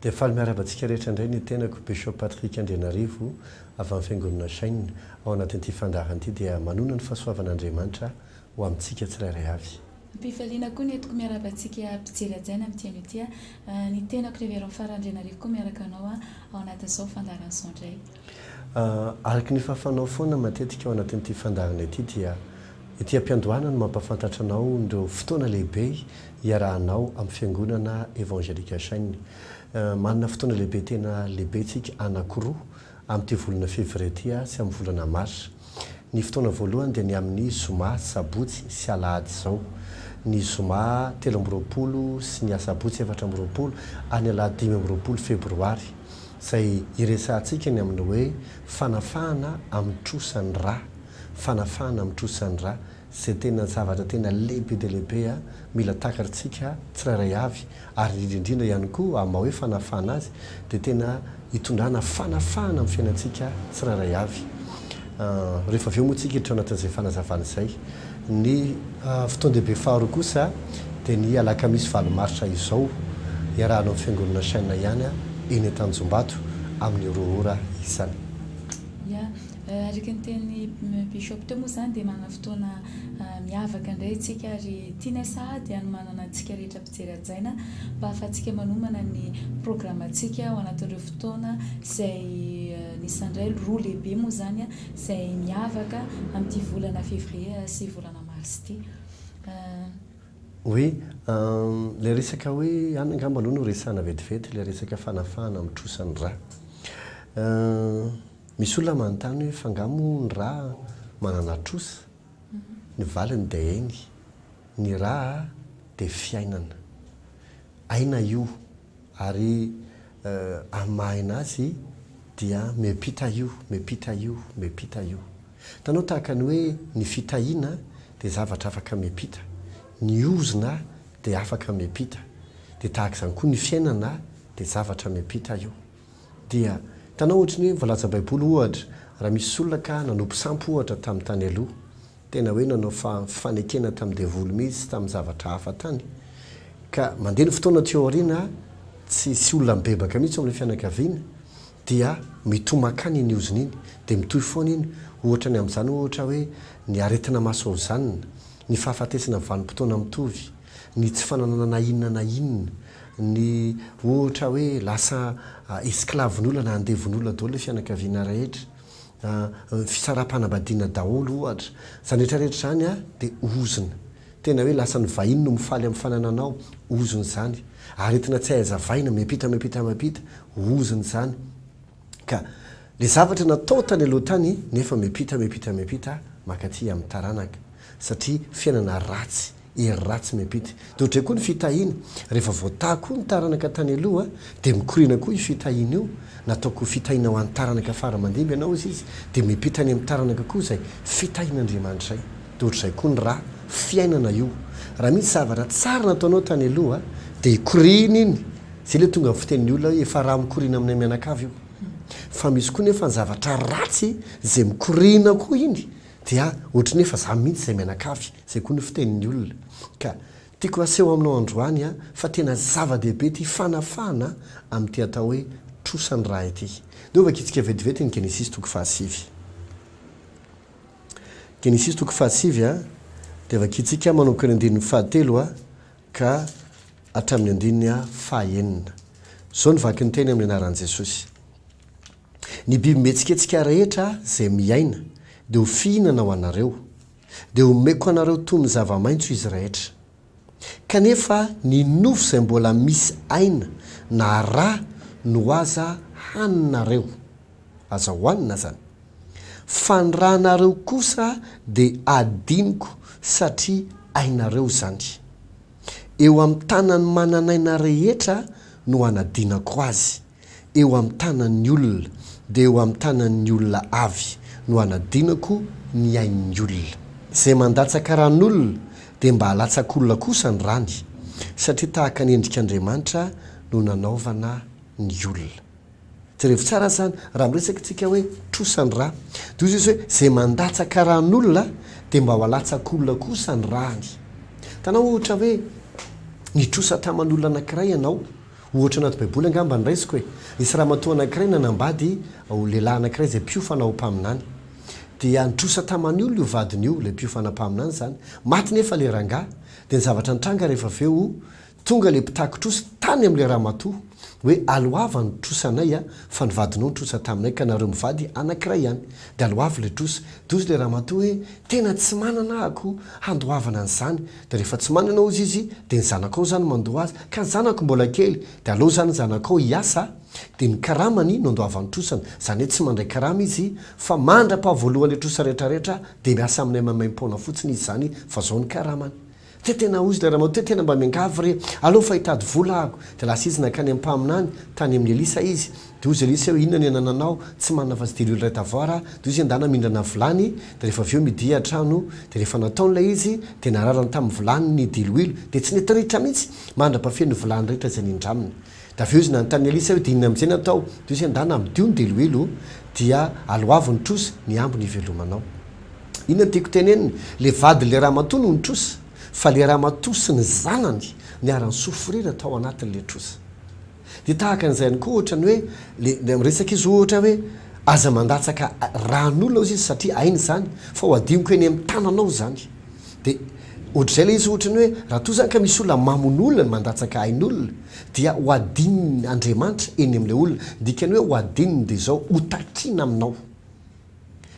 Dia faly miarahaba antsika rehetra indray ny tenako, Bishop Patrick Andrianarivo, avy amin'ny Fiangonana Shine. Ao anatin'ity fandaharana ity dia manona ny fahasoavan'Andriamanitra ho amintsika tsirairay avy. Am-pifaliana koa ny entiko miarahaba antsika mpijery hajaina amin'ity anio ity aho. Ny tenako Révérend Fara Andrianarivo koa miaraka anao ao anatin'izao fandaharan'izao indray. Araka ny fahafanao foana matetika ao anatin'ity fandaharana ity dia ety am-piandohana no mampahafantatra anao ireo fotoana lehibe iarahanao amin'ny Fiangonana Evangelika Shine. Manana fotoana lehibe tena lehibe tsika anakiroa amin'ity volana février ity sy amin'ny volana mars. Ny fotoana voalohany dia ny amin'ny zoma, sabotsy sy alahady izao. Ny zoma telo amby roapolo sy ny asabotsy efatra amby roapolo ary ny alahady dimy amby roapolo febroary, izay iresahantsika ny amin'ny hoe fanafahana amin'ny trosa ny ra, fanafahana amin'ny trosa ny ra, Izay tena zavatra tena lehibe dia lehibe mila takarintsika tsirairay avy ary indrindra indrindra ihany koa amin'ny maha hoe fanafahana azy dia tena hitondrana fanafahana amin'ny fiainantsika tsirairay avy. Rehefa avy eo moa isika hiditra ao anatin'izay fanazavana izay. Ny fotoan-dehibe faharoa kosa dia ny alakamisy valo marsa izao iarahana amin'ny fiangonana Shin ihany eny Antanjombato amin'ny roa ora isany. Araka ny tenin'ny Bishop teo moa izany dia manana fotoana miavaka indray isika ary tianay sahady hanomanana antsika rehetra mpijery hajaina mba hahafahantsika manomana ny programantsika ao anatin'ireo fotoana izay anisan'ny iray roa lehibe moa izany izay miavaka amin'ity volana Février sy volana Mars ity. Oui, ilay resaka hoe, any angamba aloha no resahina vetivety ilay resaka fanafahana amin'ny trosa ny rà. Misy olona manontany hoe fa nga moa ny ra manana trosa? Ny valiny dia eny, ny ra dia fiainana. Aina io ary amin'ny maha aina azy dia miampita io, miampita io, miampita io. Hitanao tahaka ny hoe ny fitahiana dia zavatra afaka miampita, ny ozona dia afaka miampita, dia tahaka izany koa ny fiainana dia zavatra miampita io. Dia hitanao ohatry ny hoe voalaza baiboly ohatra raha misy olona ka nanopy sampy ohatra tamin'ny tany aloha, tena hoe nanao fifanekena tamin'ny devoly mihitsy tamin'ny zavatra hafa tany, ka mandeha ny fotoana aty aoriana tsy hisy olona mibebaka mihitsy ao amin'ilay fianakaviana, dia mitohy mankany iny ozona iny, dia mitohy foana iny, ohatra ny amin'izany ohatra hoe ny aretina masohozanina, ny fahafatesana vanim-potoana mitovy, ny tsy fananana na inona na inona, ny ohatra hoe lasa esclave-n'olona na andevon'olona daholo ilay fianakaviana rehetra, fisaraham-panambadiana daholo ohatra. Izany rehetra rehetra izany dia ozona. Tena hoe lasa ny vahiny no mifaly amin'ny fanananao, ozona izany. Aretina tsy hay hazavaina, miampita, miampita, miampita, ozona izany. Ka le zavatra natao tany aloha tany nefa miampita miampita miampita makaty amin'ny taranaka satria fiainana ratsy, hery ratsy miampita. De ohatray koa ny fitahiana, rehefa voataha koa ny taranaka tany aloha de mikoriana koa io fitahiana io, nataoko ho fitahiana ho an'ny taranaka fara mandimby ianao izy izy de miampita any amin'ny taranaka koa izay fitahian'Andriamanitray. De ohatrizay koa ny ra fiainana io, raha misy zavatra tsara nataonao tany aloha de ikoriana iny, Zay ilay tonga amin'ny fitenin'ny olona hoe efa raha mikoriana aminay mianakavy io. Fa misy koa nefa ny zavatra ratsy izay mikoriana koa iny dia ohatry ny hoe efa za mihitsy izay mianakavy, izay koa ny fitenin'ny olona. Ka tiako haseho aminao androany fa tena zava-dehibe ity fanafahana amin'ity atao hoe trosan'ny ra ity. Ndeha ho vakintsika vetivety ny Genesisy toko fahasivy. Genesisy toko fahasivy dia vakintsika manomboka ny andininy fahatelo. ka hatramin'ny andininy faha enina. Izao no vaky ny teny amin'ny anaran'i Jesosy, Ny biby mihetsiketsika rehetra izay miaina dia ho fihinana ho anareo, dia homeko anareo toy ny zava-maitso izy rehetra. Kanefa ny nofo izay mbola misy aina na rà no aza haninareo. Aza hoanina zany. Fa ny ra nareo kosa de adinoko satria ainareo zany. Eo am tanany mananaina rehetra no anadinako azy. Eo am tanany olona de eo am tanany olona avy no anadinako ny ainy olona. Zay mandatsaka ran olona de mba alatsak olona kosa ny rany. Satria tahaka ny endrik Andriamanitra no nanaovana ny olona. Jerevo tsara zany raha miresaka tsika hoe trosa ny rà de ozy izy hoe zay mandatsaka ràn'olona de mba ho alatsak'olona kosa ny ràny tanao ohatra hoe nitrosa taman'olona anakiray ianao ohatra anaty baiboly angamba ny raisiko e nisy ramatoa anakiray nanambady ho lehilahy anakiray zay mpiofana ho mpaminany dia nitrosa tamany olona io vadiny io ilay mpiofana mpaminany zany maty nefa le rangah de ny zavatra nitranga rehefa aveo Tonga le mpitakin-trosa tany amin'ilay ramatoa hoe aloava ny trosanay a, fa ny vadinao nitrosa taminay ka nareo mivady anankiray ihany de aloavy le trosa, de ozy le ramatoa hoe tena tsy manana ako handoavana an'izany, de rehefa tsy manana ozy izy de ny zanakao zany mandoa azy, ka ny zanako mbola kely de aleo zany ny zanakao hiasa de ny karamany no andoavany trosany, zany hoe tsy mandray karama izy fa mandrapahavoaloha le trosa retraretra de miasa aminay maimaimpoana fotsiny izy zany fa zao ny karamany, Dia tena hozy ilay ramatoa hoe tena mba miangavy re aleo fa hitady vola aho. Dia lasa izy nankany amin'ny mpaminany tany amin'i Elisa izy. Dia hozy Elisa hoe inona no anananao, tsy manana afa-tsy delio iray tavoara aho. Dia hozy endana mindrana vilany, dia rehefa avy eo midia an-trano. Dia rehefa nataony ilay izy, dia nararany tamin'ny vilany ny diloilo, dia tsy nety ritra mihitsy mandra-pafy ny vilany rehetra izay nindraminy. Dia avy eo izy nanontany an'i Elisa hoe, Dia inona amin'izay no atao? Dia hoy izy, Andà na midio ny deloelo, dia aloavo ny trosa, ny hambo no hivelomanao. Inona no tiako tenenina? Ilay vadin'ilay ramatoa no nitrosa, fa ilay ramatoa sy ny zanany niara-nisofrira tao anatin'ilay trosa. Dia tahaka an'izay ihany koa ohatra ny hoe, ilay miresaka izy ohatra hoe, Aza mandatsaka ran'olona hoy izy satria hainy izany, fa ho hadinoko eny amin'ny tananao izany. Dia ohatr'izay ilay izy ohatrany hoe raha toa izany ka misy olona mamono olona na mandatsaka ain'olona dia ho adinony Andriamanitra eny amin'ilay olona. Ny dikan'ny hoe ho adinony dia izao, ho takiana aminao.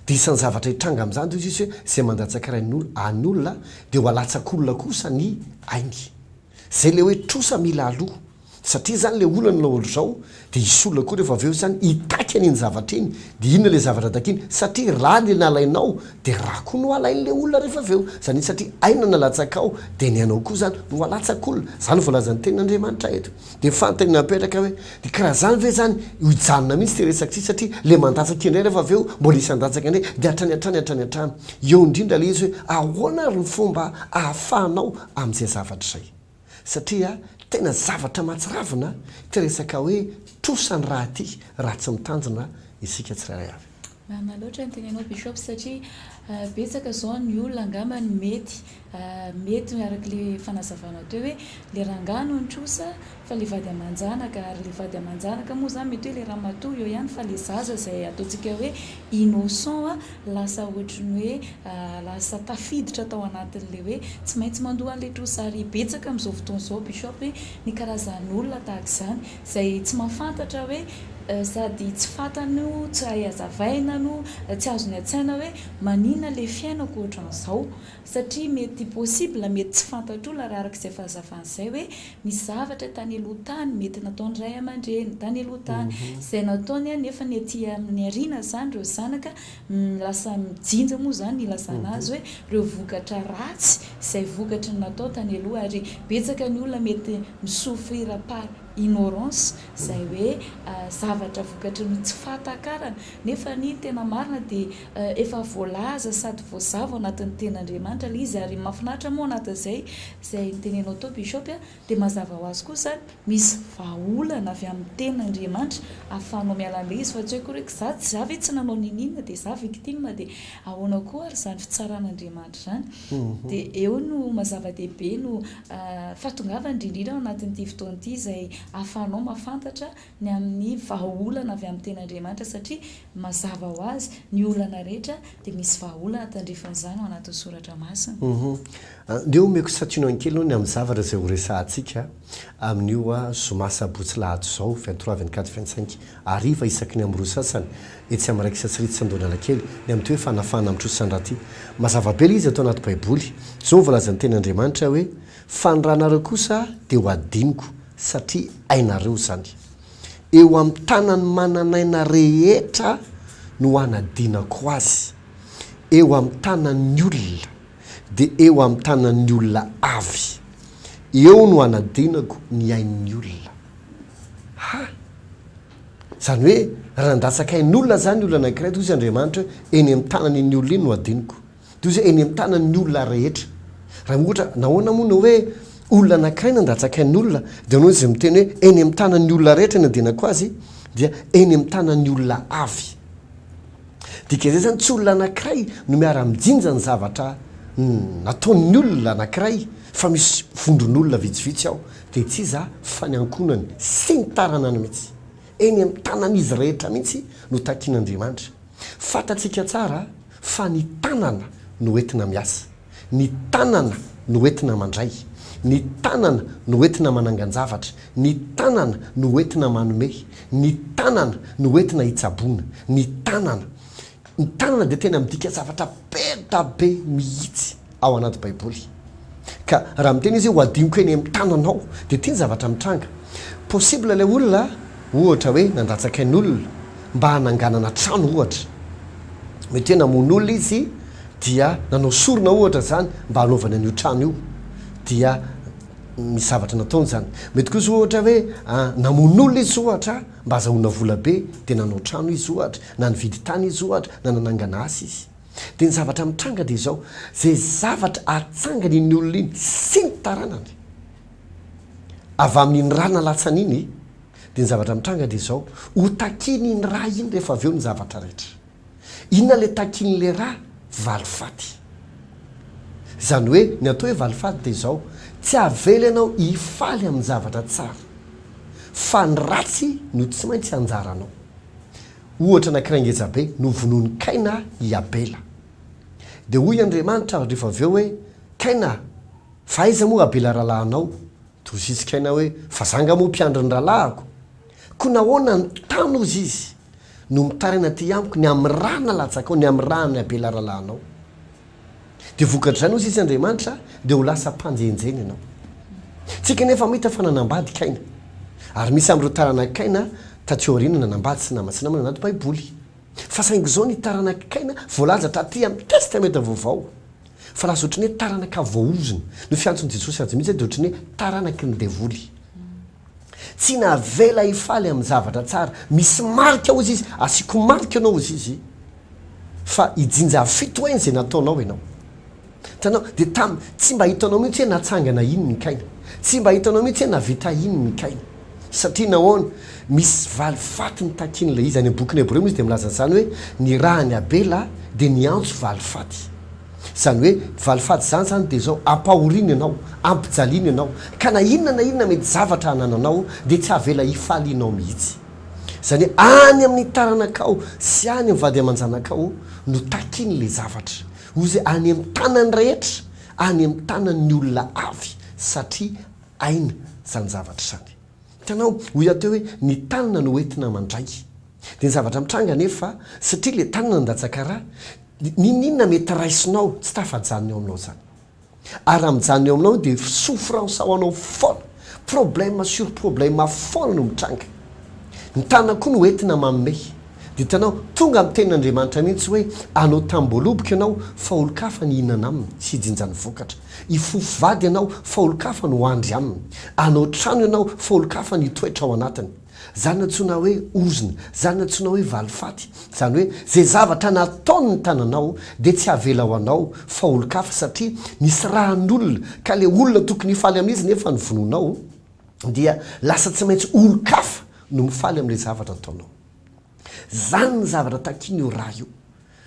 Dia isan'ny zavatra hitranga amin'izany dia hoy Jesoa hoe izay mandatsaka rain'olona, ain'olona dia ho alatsak'olona kosa ny ainy. Zay le hoe trosa mila aloha satria zany le olana laolo izao de hisy olona koa rehefa avy eo zany hitaky an'iny zavatra iny de inona le zavatra takiany satria ra le nalainao de ra koa no alain'le olona rehefa avy eo zany satria aina nalatsakao de ny anao koa zany no alatsak'olona zany voalazan'ny tenin'Andriamanitra eto de fantany napetraka hoe de ka raha zany ve zany ho hijanona mihintsy ty resaka ty satria le mandatsaka indray rehefa avy eo mbola hisy handatsaka indray de hatrany hatrany hatrany hatrany eo indrindra le izy hoe ahoana ary ny fomba ahafahanao amin'izay zavatra izay satria tena zavatra mahatsiravina ity resaka hoe trosa ny rà ity raha tsy mitandrina isika tsirairay avy. Marina loatra ny tenenao Bishop satria betsaka izao ny olona angamba no mety mety araka ilay fanazavanao teo hoe ilay rangahy no nitrosa Fa le vady amanjanaka ary le vady amanjanaka moa zany mety hoe le ramatoa eo ihany fa le zaza zay ataontsika hoe innocent lasa ohatrin'ny hoe lasa tafiditra tao anatin'le hoe tsy maintsy mandoa an'le trosa ary betsaka amin'izao fotoana izao bishop hoe ny karazan'olona tahaka izany zay tsy mahafantatra hoe sady tsy fantany no tsy hay hazavaina no tsy azony an-tsaina hoe maninona le fiainako ohatran'izao Satria mety possible, mety tsy fantatr'olona raha araka izay fahazavany izay hoe misy zavatra tany aloha tany mety nataon'ny ray aman-dreny tany aloha tany, izay nataony an, nefa ny aty amin'ny aoriana izany ireo zanaka lasa mijinja moa izany ny ilazana azy hoe ireo vokatra ratsy izay vokatry ny natao tany aloha ary betsaka ny olona mety mi souffrir par ignorance izay hoe zavatra vokatry ny tsy fahatakarana nefa ny tena marina dia Efa voalaza sady voazava ao anatin'ny tenin'Andriamanitra ilay izy ary mahafinaritra moa ao anatin'izay izay notenenao teo Bishop a, dia mazava ho azy koa izany misy vahaolana avy amin'ny tenin'Andriamanitra ahafahanao miala an'ilay izy fa tsy hoe akory hoe za tsy za ve tsy nanao niniana dia za victime dia ahoana koa ary izany fitsaran'Andriamanitra izany dia eo no mazava-dehibe no fahatongavan'ny indrindra indrindra ao anatin'ity fotoana ity izay ahafahanao mahafantatra ny amin'ny vahaolana avy amin'ny tenin'Andriamanitra satria mazava ho azy ny olana rehetra dia misy vahaolana tandrifin'izany ao anatin'ny soratra masina. Ndeha omeko santionany kely aloha ny amin'ny zavatra izay horesahantsika amin'io zoma sabotsy lahady izao, vingt trois, vingt quatre, vingt cinq, hariva isaky ny amin'ny roa sasany etsy amin'ny Raikitra Tsy Ritra Andohanalakely ny amin'ny toe fanafahana amin'ny trosa an-draty. Mazava be ilay izy ato anaty baiboly, Jehovah voalazan'ny tenin'Andriamanitra hoe, Fa ny ranareo kosa dia ho hadinoko. satria hainareo izany. Eo amin'ny tanan'ny manan'aina rehetra no hanadinako azy, eo amin'ny tanan'ny olona, dia eo amin'ny tanan'ny olona avy. Eo no hanadinako ny ain'ny olona. Ha! Izany hoe, raha nandatsaka ain'olona izany olona anankiray, dia hoy izy Andriamanitra hoe, eny amin'ny tanan'iny olona iny no hadinoko. Toy izay eny an-tanan'ny olona rehetra. Raha ohatra, nahoana moa no hoe olona anankiray nandatsakain'olona dia ianao izay miteny hoe eny amin'ny tanan'ny olona rehetra ny andianako azy dia eny amin'ny tanan'ny olona avy. Dika izay izany tsy olona anankiray no miara-mijinja ny zavatra nataon'ny olona anankiray fa misy vondron'olona vitsivitsy ao dia tsy iza fa ny ankohonany sy ny taranany mihitsy. Eny amin'ny tanan'izy rehetra mihitsy no takin'Andriamanitra. Fantatsika tsara fa ny tanana no entina miasa, ny tanana no entina mandray, ny tanana no entina manangan-javatra, ny tanana no entina manome, ny tanana no entina hitsaboana, ny tanana. Ny tanana dia tena midika zavatra beda be mihitsy. ao anaty Baiboly. Ka raha miteny izy hoe hohadinoko eny amin'ny tananao, dia ity ny zavatra mitranga. Possible ilay olona, ohatra hoe, nandatsaka ny olona mba hananganana trano, ohatra. Mety hoe namono olona izy, dia nanao sorona, ohatra, izany mba hanaovany an'io trano io. Dia misy zavatra nataony izany. Mety kosa, ohatra, hoe namono olona izy, ohatra, mba hahazahoana vola be, dia nanao trano izy, ohatra, na nividy tany izy, ohatra, na nanangana asa izy. Dia ny zavatra mitranga dia izao, izay zavatra atsangany iny olona iny sy ny taranany, avy amin'iny ra nalatsany iny, dia ny zavatra mitranga dia izao, ho takian'iny ra iny rehefa avy eo ny zavatra rehetra. Inona ilay takian'ilay ra? Valifaty. Izany hoe, ny atao hoe valifaty dia izao, tsy avela ianao hifaly amin'ny zavatra tsara, fa ny ratsy no tsy maintsy anjaranao. Ohatra anankiray ngeja be, novonoin'i Kaina i Abela. Dia hoy Andriamanitra rehefa avy eo hoe, Kaina a, fa aiza moa Abela rahalahinao? Torosits'i Kaina hoe, Fa za angaha moa mpiandry ny rahalahiko? Koa nahoana ny tany hozy izy, no mitaraina aty amiko ny amin'ny ra nalatsakao, ny amin'ny ran'i Abela rahalahinao? Dia vokatr'izany, hoy sisa Andriamanitra, dia ho lasa mpanjenjena ianao. Tsika anefa mahita fa nanambady Kaina. Ary misy amin'ireo taranak'i Kaina taty aoriana nanambady sy namana sy namana anaty Baiboly. Fa saingy izao ny taranak'i Kaina voalaza taty amin'ny Testamenta Vaovao. Fa lasa ohatran'ny hoe taranaka voaozona. No fiantson'i Jesosy azy mihitsy dia ohatran'ny hoe taranaky ny devoly. Tsy navela hifaly amin'ny zavatra tsara. Misy marika hozy izy, asiako marika anao hozy izy fa hijinja fito heny izay nataonao ianao. Hitanao? Dia tam, tsy mba hitanao mihitsy hoe natsangana inn ny kaina. Tsy mba hitanao mihitsy hoe navita inn ny kaina. Satria nahoana? Misy valifaty nitakian'ilay izy. Any amin'ny bokin'ny Hebreo moa izy dia milaza an'izany hoe, ny rahan'i Abela dia niantso valifaty. Izany hoe valifady izany izany dia izao, ampahoriana ianao, ampijaliana ianao, ka na inona na inona mety zavatra anananao dia tsy havela hifaly ianao mihitsy. Izany hoe any amin'ny taranakao sy any amin'ny vady aman-janakao no takian'ilay zavatra. Hoy izy hoe any amin'ny tanan'ny rehetra, any amin'ny tanan'ny olona avy, satria aina izany zavatra izany. Hitanao, hoy aho teo hoe, ny tanana no entina mandray. Dia ny zavatra mitranga anefa, satria ilay tanana nandatsaka ra, n'inon'inona mety raisinao, tsy tafajanona eo aminao izany. Ary raha mijanona eo aminao io dia souffrance ao anao foana, problème sur problème foana no mitranga. Ny tanana koa no entina manome. Dia hitanao, tonga amin'ny tenin'Andriamanitra mihitsy hoe, anao tamim-boaloboka ianao, fa olon-kafa ny hihinana aminy, sy hijinja ny vokatra. Hifofo vady ianao fa olon-kafa no handry aminy. Hanao trano ianao fa olon-kafa no hitoetra ao anatiny. Izany no antsoina hoe ozona, izany no antsoina hoe valifaty. Izany hoe izay zavatra nataon'ny tananao dia tsy havela ho anao fa olon-kafa satria nisy ran'olona ka ilay olona tokony hifaly amin'izy nefa novonoinao dia lasa tsy maintsy olon-kafa no mifaly amin'ilay zavatra nataonao. Zany ny zavatra takin io ra io.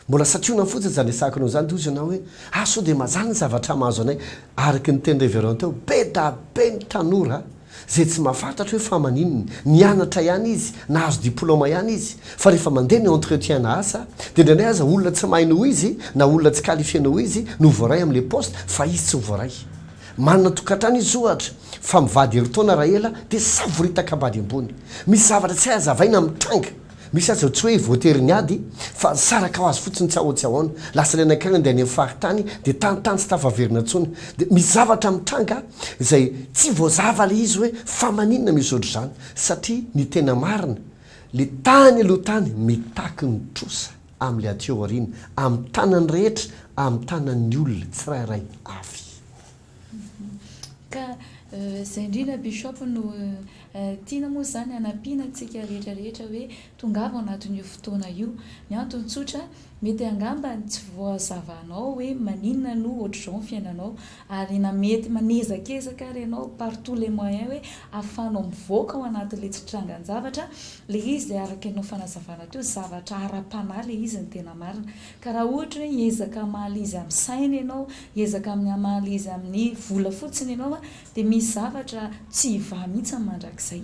Mbola sationany fotsiny izany resahako anao izany tohizo ianao hoe ah sao dia mazana ny zavatra mahazo anay araka ny teny reverend teo be da be ny tanora izay tsy mahafantatra hoe fa maninona nianatra ihany izy nahazo diploma ihany izy fa rehefa mandeha ny entretien na asa dia indraindray aza olona tsy mahay noho izy na olona tsy qualifier noho izy no voaray amin'ilay poste fa izy tsy voaray Manana tokantrano izy ohatra fa mivady herintaona raha ela dia savoritaka ambady ambony. Misy zavatra tsy hay hazavaina mitranga. Misy aza tsy hoe voatery ny ady fa nisaraka ho azy fotsiny tsy aotsiaona. Lasa ilay nankany handeha any amin'ny faritany dia tany tany tsy tafaverina intsony. Dia misy zavatra mitranga izay tsy voazava ilay izy hoe fa maninona misy ohatr'izany satria ny tena marina ilay tany aloha tany mitaky ny trosa. amin'ilay aty aoriana, amin'ny tanan'ny rehetra, amin'ny tanan'ny olona tsirairay avy. Ka izay indrindra Bishop no tiana moa izany hanampiana antsika rehetra rehetra hoe tongava ao anatin'io fotoana io. Ny antony tsotra, mety angamba tsy voazava anao hoe maninona no ohatr'izao ny fiainanao, Ary na mety manezakezaka ary ianao par tous les moyens hoe afahanao mivoaka ao anatin'ilay tsy trangan-javatra ilay izy dia araka an'io fanazavana teo zavatra ara-panahy ilay izy ny tena marina. Ka raha ohatra hoe hiezaka hamaly izy amin'ny saina ianao, hiezaka amin'ny hamaly izy amin'ny vola fotsiny ianao dia misy zavatra tsy hivaha mihitsy mandrakizay.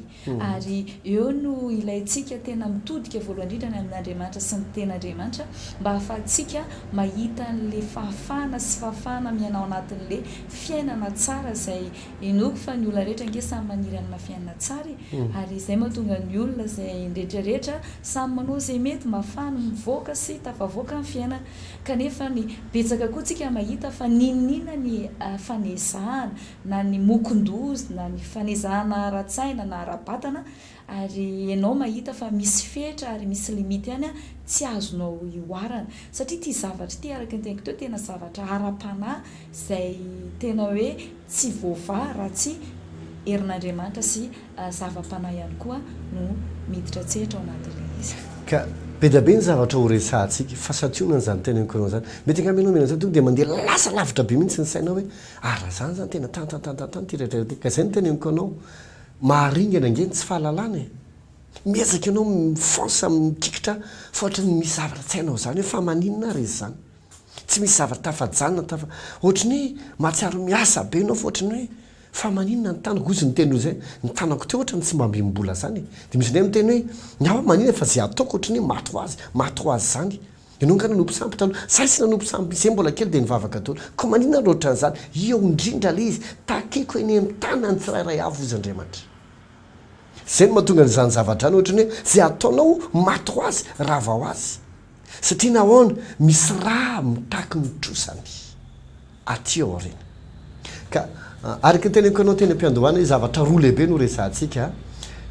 Ary eo no ilaintsika tena mitodika voalohany indrindra any amin'Andriamanitra sy ny Tenin'Andriamanitra mba hahafahantsika mahita an'ilay fahafahana sy fahafahana miaina ao anatin'ilay fiainana tsara izay inoako fa ny olona rehetra ange samy maniry hanana fiainana tsara e! ary izay mahatonga ny olona izay ny rehetra rehetra samy manao izay mety mba hahafahany mivoaka sy tafavoaka ny fiainana kanefa ny betsaka koa tsika mahita fa n'inon'inona ny fanezahana na ny mokon-doza na ny fanezahana ara-tsaina na ara-batana ary enao mahita fa misy fetra ary misy limite ihany an, tsy azonao ihoarana. Satria ity zavatra ity araka ny teniko teo tena zavatra ara-panahy izay tena hoe tsy voavaha raha tsy herin'Andriamanitra sy zava-panahy ihany koa no miditra an-tsehatra ao anatin'ilay izy. Ka be dia be ny zavatra ho resahantsika fa santionana izany teneniko anao izany. Mety angamba ianao mihaino an'izao tonga dia mandeha lasa lavitra be mihitsy ny sainao hoe Ary raha izany izany tena tantantantantan ity rehetra ity, ka izay no teneniko anao, maharingana ange ny tsy fahalalana e! Miezaka ianao mifansa mikiikitra fa ohatry ny misy zavatra tsy hainao izany hoe fa maninona ary izy izany? Tsy misy zavatra tafajanona tafa ohatry ny hoe mahatsiaro miasa be ianao fa ohatry ny hoe fa maninona ny tanako, hoy izy niteny izay, ny tanako teo ohatry ny tsy mba mihombola izany e! Dia misy indray miteny hoe ny ahy ho'a maninona fa izay ataoko ohatry ny hoe maty ho azy, maty ho azy izany, Enongana no mpisampy taloha, saisina no mpisampy izay mbola kely dia nivavaka dolo, koa maninona no otran'izany, iao indrindra le izy, takeko eny am tanany tsirairay avy ozy Andriamanitra. Zay no mahatonga an'izany zavadrano ohatrany hoe zay ataonao maty ho azy, rava ho azy. Satria nahoana, misy ra mitaky ny trosany. aty aoriana. Ka araka ny teneniko anao teny am-piandohana izy zavatra roa lehibe no resahantsika,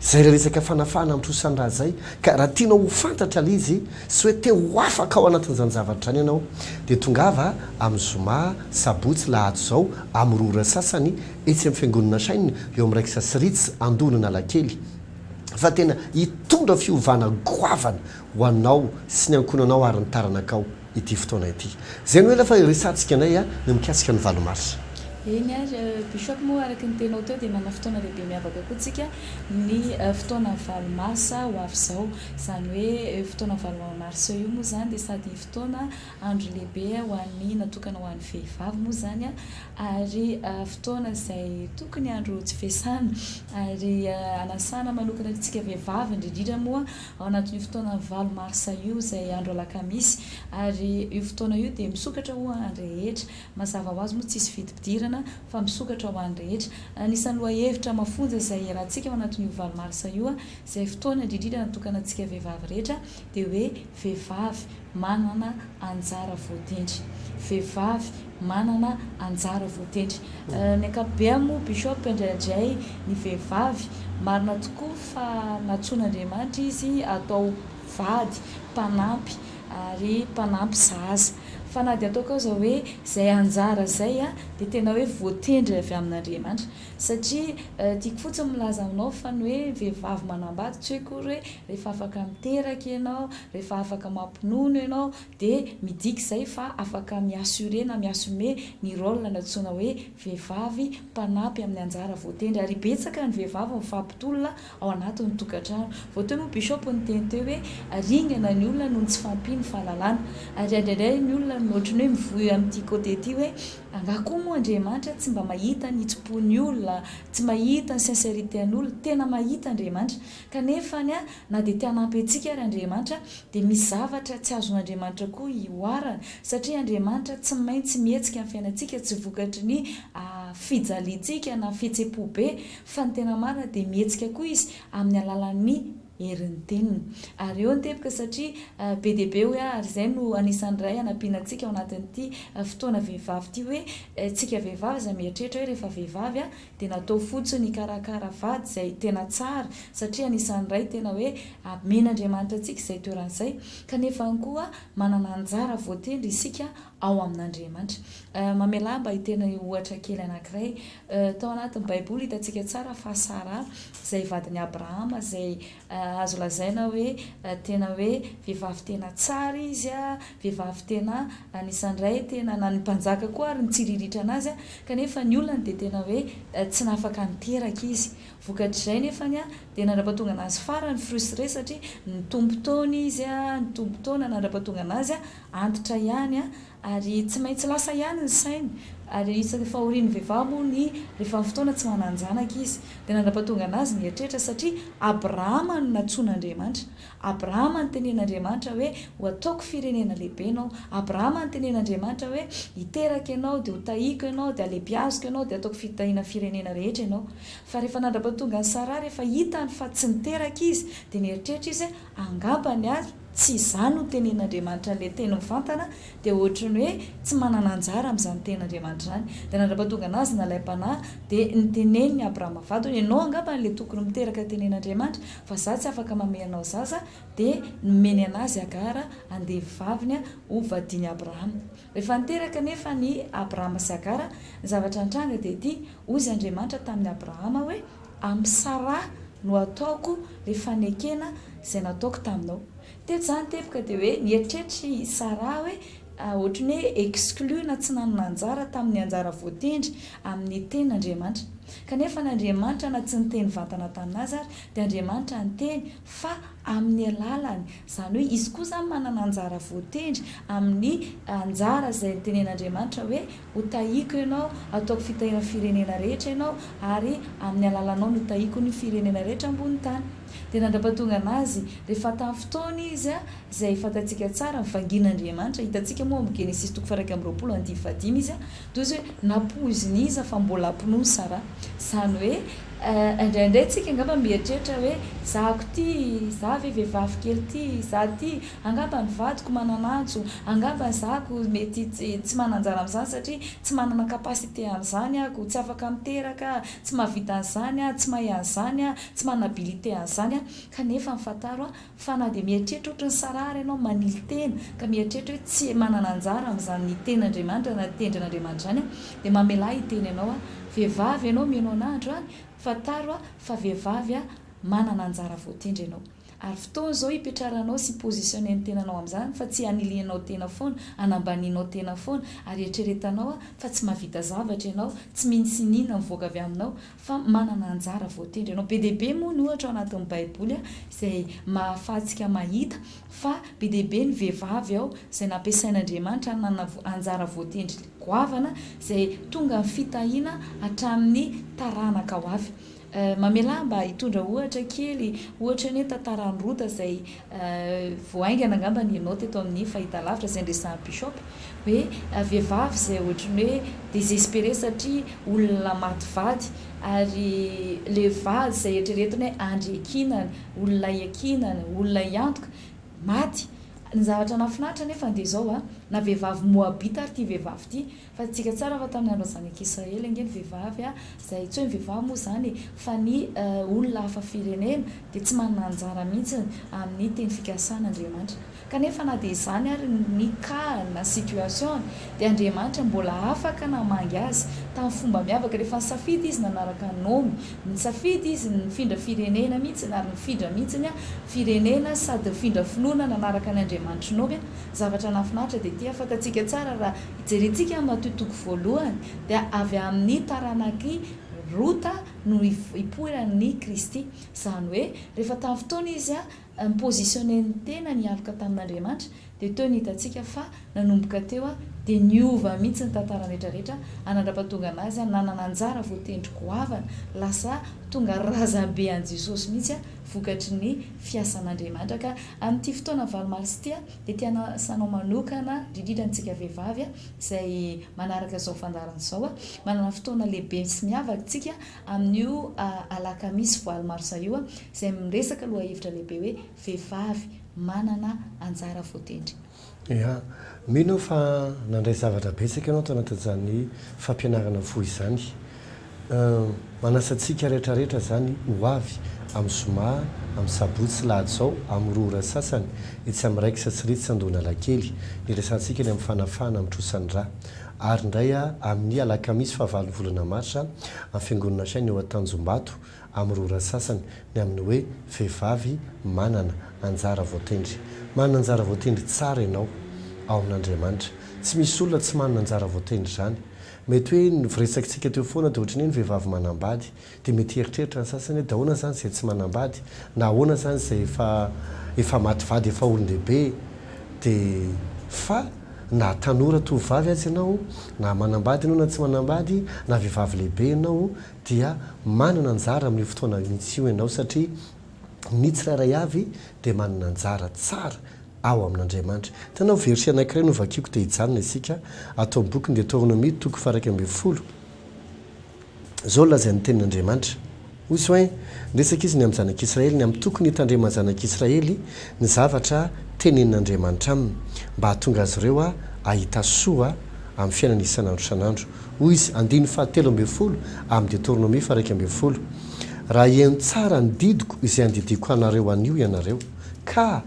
izay ilay resaka fanafahana ny trosan'ny razay, ka raha tianao ho fantatra ilay izy sy hoe te ho afaka ao anatin'izany zavatra izany ianao dia tongava amin'ny zoma, sabotsy, lahady izao amin'ny roa ora sasany etsy amin'ny fiangonana Shine eo amin'ny Raiksa sy Ritz Andohan'Analakely fa tena hitondra fiovana goavana ho anao sy ny ankohonanao ary ny taranakao. ity fotoana ity. Izay no ela fa iresahantsika anay ny mikasika ny valo marsa. Eny ary Bishop moa araka ny teninao teo dia manana fotoana lehibe miavaka koa tsika ny fotoana valo marsa ho avy izao. Izany hoe io fotoana valo marsa io moa izany dia sady fotoana andro lehibe ho an'ny natokana ho an'ny vehivavy moa izany ary fotoana izay tokony andro tsy fiasana ary anasana manokana antsika vehivavy indrindrindra moa ao anatin'io fotoana valo marsa io izay andro alakamisy ary io fotoana io dia misokatra ho an'ny rehetra. Mazava ho azy moa tsy hisy vidim-pidirana fa misokatra ho an'ny rehetra. Anisan'ny lohahevitra mafonja izay iarahantsika ao anatin'io valo marsa io izay fotoana indrindrindra natokana antsika vehivavy rehetra dia hoe vehivavy, Manana anjara voatendry. Vehivavy manana anjara voatendry. Ny ankapobeny moa Bishop indraidray ny vehivavy, marina tokoa fa nantsoin'Andriamanitra izy atao vady, mpanampy ary mpanampy zaza. Fa na dia ataoko aza hoe izay anjara izay dia tena hoe voatendry avy amin'Andriamanitra. Satria tiako fotsiny milaza aminao fa ny hoe vehivavy manambady tsy hoe akory hoe rehefa afaka miteraka ianao, rehefa afaka mampinono ianao dia midika izay fa afaka mi-assurer na mi-assumer ny rôle nantsoina hoe vehivavy mpanampy amin'ny anjara voatendry. Ary betsaka ny vehivavy mifampitolona ao anatin'ny tokantrano. Vao teo moa Bishop niteny teo hoe ringana ny olona noho ny tsy fahampian'ny fahalalana. Ary indraindray ny olona ohatran'ny hoe mivoy amin'ity côté ity hoe. Angaha koa moa Andriamanitra tsy mba mahita ny hitsim-pon'ny olona, tsy mahita ny sincérité-n'olona, tena mahita Andriamanitra, kanefa any a, na dia te hanampy antsika ary Andriamanitra, dia misy zavatra tsy azon'Andriamanitra koa ihoarana, satria Andriamanitra tsy maintsy mihetsika amin'ny fiainantsika tsy vokatry ny fijaliantsika na fihetsem-po be, fa ny tena marina dia mihetsika koa Izy amin'ny alalan'ny. herin'ny teniny. Ary eo ny teboka satria be dia be hoe ary izay no anisan'ny iray hanampiana antsika ao anatin'ity fotoana vehivavy ity hoe tsika vehivavy aza mieritreritra hoe rehefa vehivavy aho dia natao fotsiny hikarakara vady izay tena tsara satria anisan'ny iray tena hoe amen'Andriamanitra antsika izay toerana izay kanefa ihany koa manana anjara voatendry isika ao amin'Andriamanitra. Mamelà mba hiteny ohatra kely anankiray. Tao anatin'ny Baiboly, hitantsika tsara fa Sara, izay vadin'i Abrahama, izay azo lazaina hoe tena hoe vehivavy tena tsara izy, vehivavy tena anisan'ny iray tena, na ny mpanjaka koa àry nitsiriritra anazy, kanefa ny olany dia tena hoe tsy nafaka niteraka izy. Vokatr'izay anefa dia nandra-pahatonga anazy farany frustré, satria nitombo taona izy, nitombo taona nandra-pahatonga anazy antitra ihany a, ary tsy maintsy lasa ihany ny sainy, ary isan'ny fahorian'ny vehivavy moa ny rehefa ny fotoana tsy manan-janaka izy, dia nandrapatonga an'azy ny eritreritra, satria Abrahama no nantsoin'Andriamanitra, Abrahama notenen'Andriamanitra hoe, ho ataoko firenena lehibe ianao, Abrahama notenen'Andriamanitra hoe, hiteraka ianao, dia hotahiko ianao, dia halebiaziko ianao, dia hataoko fitahiana firenena rehetra ianao, fa rehefa nandrapatonga an'i Saraha, rehefa hitany fa tsy niteraka izy, dia nieritreritra izy, Angambany ary tsy izany no tenen'Andriamanitra an'ilay teny mivantana dia ohatry ny hoe tsy manana anjara amin'izany ten'Andriamanitra izany. Dia nandrapatonga an'azy nalaim-panahy dia niteneniny Abrahama vadiny hoe ianao angamba ilay tokony miteraka ny tenen'Andriamanitra fa izaho tsy afaka mamehy anao zaza dia nomeny an'azy Agara andevo vaviny ho vadin'i Abrahama. Rehefa niteraka anefa an' i Abrahama sy Agara, ny zavatra nitranga dia ity, Hoy izy Andriamanitra tamin' i Abrahama hoe, Amin' i Saraha no hataoko ilay fanekena izay nataoko taminao. Teto izany teboka dia hoe nieritreritra i Saraha hoe ohatry ny hoe exclu na tsy nanana anjara tamin' ny anjara voatendry amin' ny tenin' Andriamanitra. Kanefa na Andriamanitra na tsy niteny vantana tamin' azy ary dia Andriamanitra niteny fa amin'ny alalany, izany hoe izy koa izany manana anjara voatendry amin'ny anjara izay notenen'Andriamanitra hoe, Hotahiako ianao, hataoko fitahian'ny firenena rehetra ianao, ary amin'ny alalanao no hitahiako ny firenena rehetra ambony tany. Dia nandrapatongan'azy rehefa tamin'ny fotoana izy, izay fantatsika tsara, vangin'Andriamanitra, hitantsika moa ao amin'ny Genesisy toko faha-iraika amby roapolo andihy fahadimy izy, toy izay hoe nampoizin'iza fa mbola hampinono Saraha, izany hoe indraindray tsika angamba mieritreritra hoe zahako ity, za ve vehivavy kely ity, za ity, angamba ny vadiko manan'antso, angamba ny zako mety tsy manan-jara amin'izany satria tsy manana capacité an'izany aho, tsy afaka miteraka aho, tsy mahavita an'izany aho, tsy mahay an'izany aho, tsy manana abilité an'izany aho, kanefa ny fantaro Fa na dia mieritreritra ohatry ny Saraha ary ianao manily tena ka mieritreritra hoe tsy manana anjara amin'izany ny Tenin'Andriamanitra na ny Tendrin'Andriamanitra izany aho, dia mamelà hiteny anao aho, Vehivavy ianao mihaino an'ahy andro any, fantaro aho fa vehivavy aho, manana anjara voatendry ianao. Ary fotoana izao hipetraranao sy hi-positionner ny tenanao amin'izany fa tsy hanilianao tena foana, hanambanianao tena foana ary eritreretanao aho fa tsy mahavita zavatra ianao, tsy mino sy iniana mivoaka avy aminao, fa manana anjara voatendry ianao. Be dia be moa ny ohatra ao anatin'ny Baiboly izay mahafahantsika mahita fa be dia be ny vehivavy ao izay nampiasain'Andriamanitra nanana anjara voatendry goavana izay tonga ny fitahiana hatramin'ny taranaka ho avy. Mamelà aho mba hitondra ohatra kely, ohatra ny hoe tantaran'i Rota izay Vao haingana angamba ny ianao teto amin'ny fahitalavitra izay niresahan'i Bishop hoe vehivavy izay ohatry ny hoe désespérée satria olona maty vady ary ilay vady izay eritreretiny hoe andry iankinana, olona iankinana, olona hiantoka, maty. Ny zavatra nahafinaritra anefa dia izao, na vehivavy Moabita ary ity vehivavy ity, Fadintsika tsara fa tamin'ny andron'ny zanak'i Israely ange ny vehivavy a, izay antsoy ny vehivavy moa izany e, fa ny olona hafa firenena dia tsy manana anjara mihitsy amin'ny teny fikasan'Andriamanitra. Kanefa na dia izany ary ny cas na situation dia Andriamanitra mbola afaka namangy azy tamin'ny fomba miavaka rehefa nisafidy izy nanaraka an'i Naomy. Nisafidy izy ny nifindra firenena mihitsy ary nifindra mihitsy ny firenena sady nifindra finoana nanaraka ny Andriamanitr'i Naomy a! Zavatra nahafinaritra dia ity a, fantatsika tsara raha Hijerentsika ny matoa toko voalohany dia avy amin'ny taranak'i Rota no hipoiran'i Kristy. Izany hoe rehefa tamin'ny fotoana izy ni-positionner ny tenany hialoka tamin'Andriamanitra dia teo no hitantsika fa nanomboka teo dia niova mihitsy ny tantarany retraretra hanandrapatonga anazy nanana anjara voatendry goavana lasa tonga razambe an'i Jesosy mihitsy vokatry ny fiasan'Andriamanitra ka amin'ity fotoana valo marsa ity Dia te hanasa anao manokana, indrindra antsika vehivavy izay manaraka izao fandaharana izao, manana fotoana lehibe sy miavaka isika amin'io alakamisy valo marsa io izay miresaka lohahevitra lehibe hoe Vehivavy manana anjara voatendry. Ya. Mino aho fa nandray zavatra betsaka ianao tao anatin'izany fampianarana fohy izany. Manasa antsika rehetra rehetra izany ho avy amin'ny zoma, amin'ny sabotsy sy lahady izao amin'ny roa ora sasany etsy amin'ny Rex sy Ritz Andohanalakely. Niresahantsika ny amin'ny fanafahana amin'ny trosan'ny rà. Ary indray amin'ny alakamisy fahavalon'ny volana marsa amin'ny Fiangonana Shine eo Antanjombato amin'ny roa ora sasany ny amin'ny hoe vehivavy manana anjara voatendry. Manana anjara voatendry tsara ianao ao amin'Andriamanitra. Tsy misy olona tsy manana anjara voatendry izany. Mety hoe ny voresakintsika teo foana dia ohatran'ny hoe ny vehivavy manambady. Dia mety hieritreritra ny sasany hoe dia ahoana izany izay tsy manambady? Na ahoana izany izay efa efa maty vady efa olon-dehibe? Dia fa na tanora tovovavy aza ianao, na manambady ianao na tsy manambady, na vehivavy lehibe ianao dia manana anjara amin'io fotoana mihitsy io ianao satria ny tsirairay avy dia manana anjara tsara ao amin'Andriamanitra. Tanao verset anankiray novakiko te hijanona isika ato amin'ny bokin'ny Deteronomia toko faha-iraika ambin'ny folo. Izao no lazain'ny Tenin'Andriamanitra, Hoy Soin, niresaka izy ny amin'ny zanak'Israely, ny amin'ny tokony hitandreman'ny zanak'Israely ny zavatra tenenin'Andriamanitra aminy, mba hahatonga azy ireo hahita soa amin'ny fiainana isan'andro isan'andro. Hoy izy, andininy fahatelo ambin'ny folo amin'ny Deteronomia faha-iraika ambin'ny folo, Raha heno tsara ny didiko izay andidiako anareo anio ianareo, ka.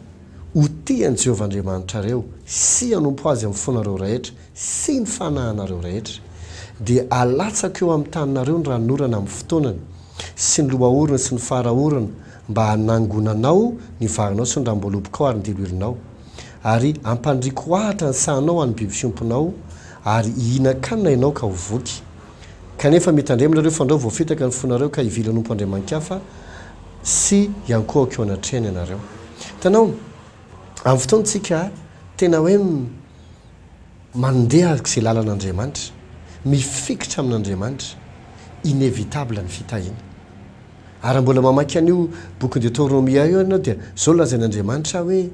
Ho tia an'i Jehovah Andriamanitrareo sy hanompo azy amin'ny fonareo rehetra sy ny fanahinareo rehetra, dia alatsako eo amin'ny taninareo ny ranonorana amin'ny fotoanany, sy ny lohaorana sy ny fara-orana, mba hanangonanao ny varinao sy ny rambolobokao ary ny diloilinao. Ary hampandriako ahitra ny sahanao ho an'ny biby fiompinao, ary hihinan-kanina ianao ka ho voky. Kanefa mitandrema nareo fandrao voafitaka ny fonareo ka hivily hanompo andriamanikafa sy hiankohoka eo anatrehany ianareo. Hitanao, amin'ny fotoantsika tena hoe mandeha araka izay lalan'Andriamanitra, mifikitra amin'Andriamanitra, inévitable ny fitahiana. Ary raha mbola mamaky an'io bokin'i Detornomia io ianao dia izao lazain'Andriamanitra hoe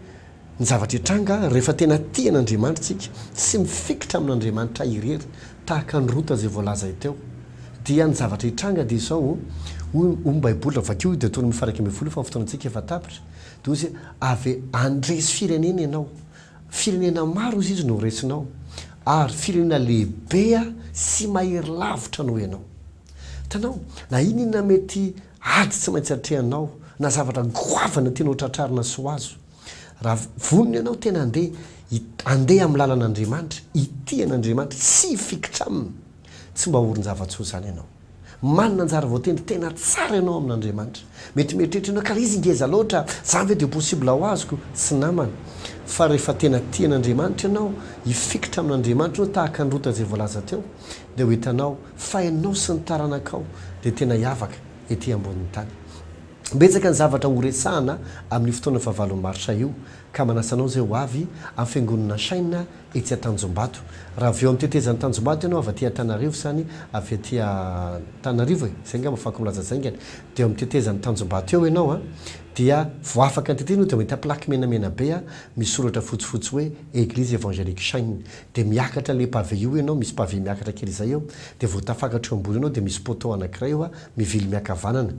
Ny zavatra hitranga rehefa tena tia an'Andriamanitra isika sy mifikitra amin'Andriamanitra irery tahaka an'i Rota izay voalazay teo dia ny zavatra hitranga dia izao hoy hoy ny baiboly raha vakio io Deotonômy faha iraika ambin'ny folo io fa ny fotoanantsika efa tapitra dia hoy izy hoe avy handresy firenena ianao firenena maro hoy izy no horesinao ary firenena lehibe sy mahery lavitra noho ianao hitanao na inona inona mety Ady tsy maintsy atrehanao na zavatra goavana tianao tratrarina sy ho azo. Raha vonona ianao tena handeha, handeha amin'ny lalan'Andriamanitra, hitia an'Andriamanitra, tsy hifikitra aminy, tsy mba ho orin-java-tsoa izany ianao. Manana anjara voatendry tena tsara ianao amin'Andriamanitra. Mety mieritreritra ianao, ka izy ngeza loatra, zany ve dia possible ho azoko? Tsy namana. Fa rehefa tena tia an'Andriamanitra ianao, hifikitra amin'Andriamanitra ianao tahaka ny Rota izay voalaza teo. dia ho hitanao fa ianao sy ny taranakao dia tena hiavaka ety ambonin'ny tany. Betsaka ny zavatra horesahana amin'io fotoana fahavalon'ny marsa io ka manasa anao izay ho avy amin'ny fiangonana Shine etsy Antanjombato. Raha avy eo amin'ny tetezan'i Tanjombato ianao avy aty Antanarivo sa ny avy aty Antananarivo e? izay angamba fako milaza izay angany, dia eo amin'ny tetezan'i Tanjombato eo ianao a, dia vao afaka ny tetezana eo dia mahita plaque menamena be a, misy soratra fotsifotsy hoe Église Evangélique Shine. dia miakatra ilay pavé io ianao, misy pavé miakatra kely izay eo, dia vao tafakatra eo ambony eo ianao dia misy poteau anankiray eo mivily miankavanana,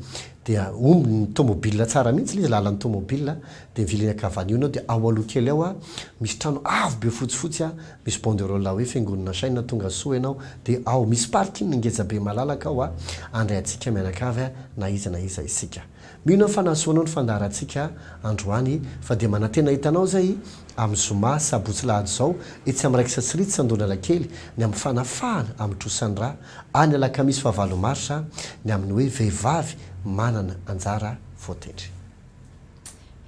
dia omby ny tomobila tsara mihitsy ilay izy, lalan'ny tomobila, dia mivily miankavanana eo ianao dia ao aloha kely ao misy trano avo be fotsifotsy misy banderole hoe fiangonana Chaine tonga soa ianao dia ao, misy parking ngeja be malalaka ao handray antsika mianakavy na iza na iza isika. Mino aho fa nahasoanao ny fandaharantsika androany fa dia manantena hahita anao izay amin'ny zoma, sabotsy alahady izao etsy amin'ny Raikitra tsy ritra Andohanalakely ny amin'ny fanafahana amin'ny trosan'ny rà, any alakamisy faha valo marsa ny amin'ny hoe vehivavy manana anjara voatendry.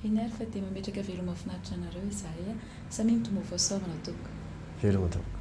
Heny ary fa dia mametraka veloma finaritra anareo izahay a! Samia mitomboa fahasoavana tompoko. Veloma tompoko.